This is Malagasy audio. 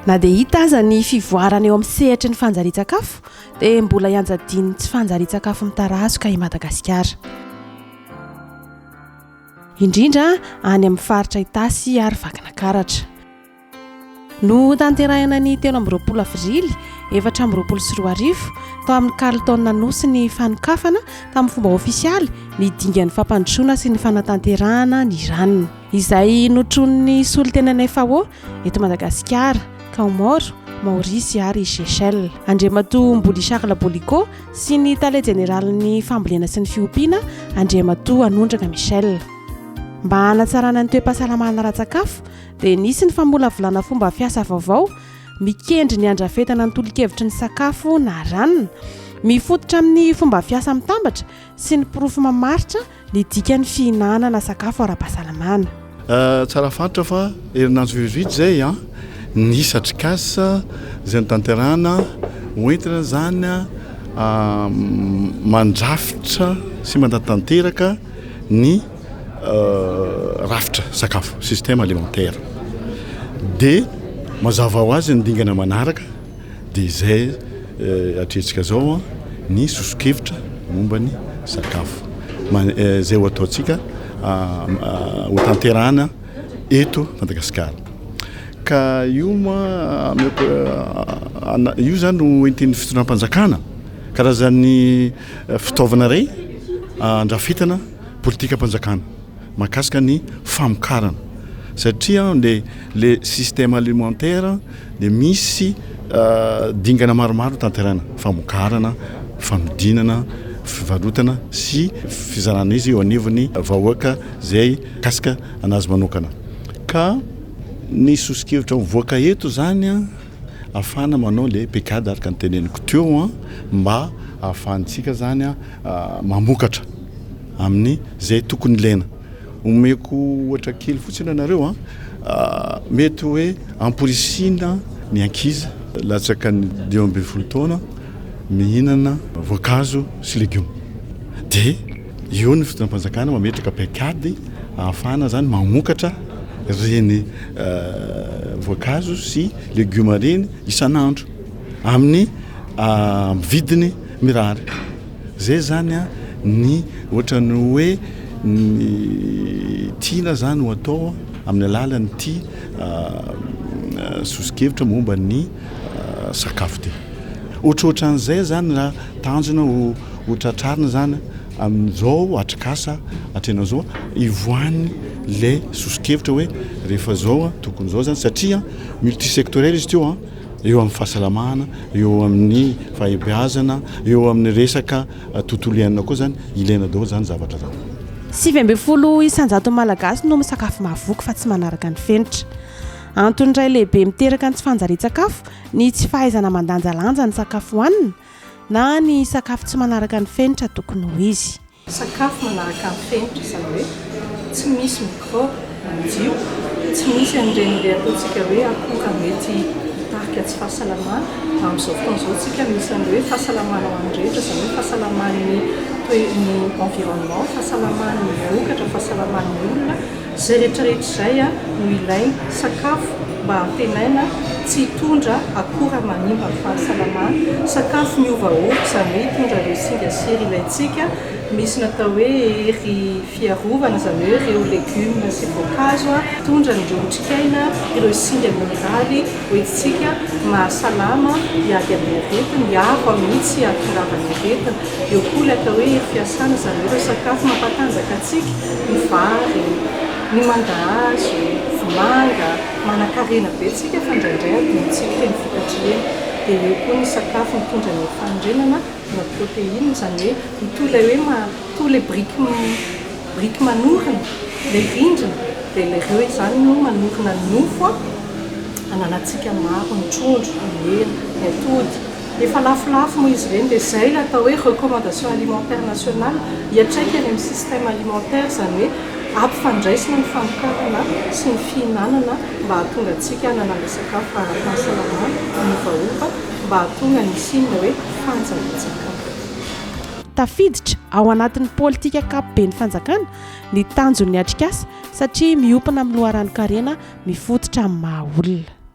na dia hita aza ny fivoarana eo amin'ny sehatry ny fanjarian-tsakafo dia mbola hianjadian'ny tsy fanjarian-tsakafo mitarazoka i madagasikara indrindra any amin'ny faritra itasy ary vakina karatra Notanterahina ny telo amby roapolo avrily efatra amby roapolo sy roa arivo tao amin'ny Carlton Anosy ny fanokafana tamin'ny fomba ofisialy ny dingan'ny fampandrosoana sy ny fanatanterahana ny RAN, izay notronin'ny solontenan'ny FAO eto Madagasikara, Kaomoro, Maorisy ary Seychelles. Andriamatoa Mbuli Charles Boliko sy ny tale jeneralin'ny fambolena sy ny fiompiana, Andriamatoa Anondraka Michel. Mba hanatsarana ny toe-pahasalamana ara-tsakafo, dia nisy ny famolavolana fomba fiasa vaovao mikendry ny handrafetana ny tolokevitry ny sakafo na ranona mifototra amin'ny fomba fiasa mitambatra sy ny porofo mamaritra ny dikan'ny fihinanana sakafo ara-pahasalamana. Euh, tsara fantatra fa herinandro vitsivitsy izay an, ny isa Tricas izay notanterahana ho entina izany an mandrafitra sy mandatanteraka ny rafitra sakafo, système alimentaire. Dia mazava ho azy ny dingana manaraka dia izay atrehintsika izao ny soso-kevitra momba ny sakafo izay ho ataontsika ho tanterahana eto Madagasikara. Ka io moa io izany no entin'ny fitondram-panjakana karazan'ny fitaovana iray andrafetana politikam-panjakana mahakasika ny famokarana satria le le système alimentaire dia misy dingana maromaro tanterana famokarana fanodinana fivarotana sy fizarana izy eo anivon'ny vahoaka izay kasika anazy manokana ka ny soso-kevitra mivoaka eto izany a Afahana manao ilay pecade araka ny teneniko teo an, mba ahafahantsika zany an mamokatra amin'ny zay tokony ilaina. Omeko ohatra kely fotsiny anareo an, mety hoe amporisihina ny ankizy latsaka ny dimy ambin'ny folo taona mihinana voankazo sy legioma dia. Eo ny fitondram-panjakana mametraka paikady ahafahana izany mamokatra ireny voankazo sy legioma ireny isan'andro amin'ny vidiny mirary. Izay izany ny ohatran'ny hoe ny tiana izany ho atao amin'ny alalan'ity sosokevitra momba ny sakafo ity. Ohatrohatran'izay izany raha. Tanjona ho ho tratrarina izany amin'izao atrikasa hatrehina izao hivoahan'ny ilay soso-kevitra hoe rehefa izao tokony izao izany satria multisectoriel izy ity an, eo amin'ny fahasalamana, eo amin'ny fahaibeazana, eo amin'ny resaka tontolo iainana koa izany, ilaina daholo izany zavatra izany. Sivy ambin'ny folo isan-jaton'ny Malagasy no misakafo mahavoky fa tsy manaraka ny fenitra. Antony iray lehibe miteraka ny tsy fanjarian-tsakafo ny tsy fahaizana mandanjalanja ny sakafo hohanina na ny sakafo tsy manaraka ny fenitra tokony ho izy. Sakafo manaraka ny fenitra, izany hoe tsy misy mikraoba madio, tsy misy an'ireny ilay ataontsika hoe akora mety hitarika tsy fahasalamana, amin'izao fotoana izao isika misy an'ilay hoe fahasalamana ho an'ny rehetra, izany hoe fahasalaman'ny environnement, fahasalaman'ny vokatra, fahasalaman'ny olona. Izay rehetrarehetra izay no ilaina, sakafo mba hantenaina tsy hitondra akora manimba ny fahasalamana, sakafo miovaova, izany hoe hitondra ireo singa sy hery ilaintsika, misy natao hoe hery fiarovana, izany hoe ireo legioma sy voankazo hitondra an'ireo otrikaina, ireo singa mineraly hoentintsika mahasalama, hiady amin'ny aretina, hiaro amin'ny tsy hahatongava ny aretina. Eo koa ilay atao hoe fiasana izany hoe ireo sakafo mampatanjaka antsika, ny vary, ny mangahazo, vomanga, manakarena be antsika fa indraindray adinontsika ireny vokatra ireny. Dia eo koa ny sakafo mitondra ny fanorenana na protéine, izany hoe mitohy ilay hoe ma- mitohy ilay biriky biriky manorina ilay rindrina, dia ilay ireo izany no manorina ny nofo hananantsika maro ny trondro, ny hena, ny atody. Efa lafolafo moa izy ireny dia izay ilay atao hoe recommandation alimentaire nationale hiatraika any amin'ny système alimentaire izany hoe ampifandraisina ny fanokanana sy ny fihinanana mba hahatonga antsika hanana ilay sakafo ara-pahasalamana miovaova mba hahatonga ny hisian'ilay hoe fanjanantsakafo. Tafiditra ao anatin'ny politika ankapoben'ny fanjakana ny tanjon'ny atrikasa satria miompana amin'ny loharanon-karena mifototra amin'ny maha olona.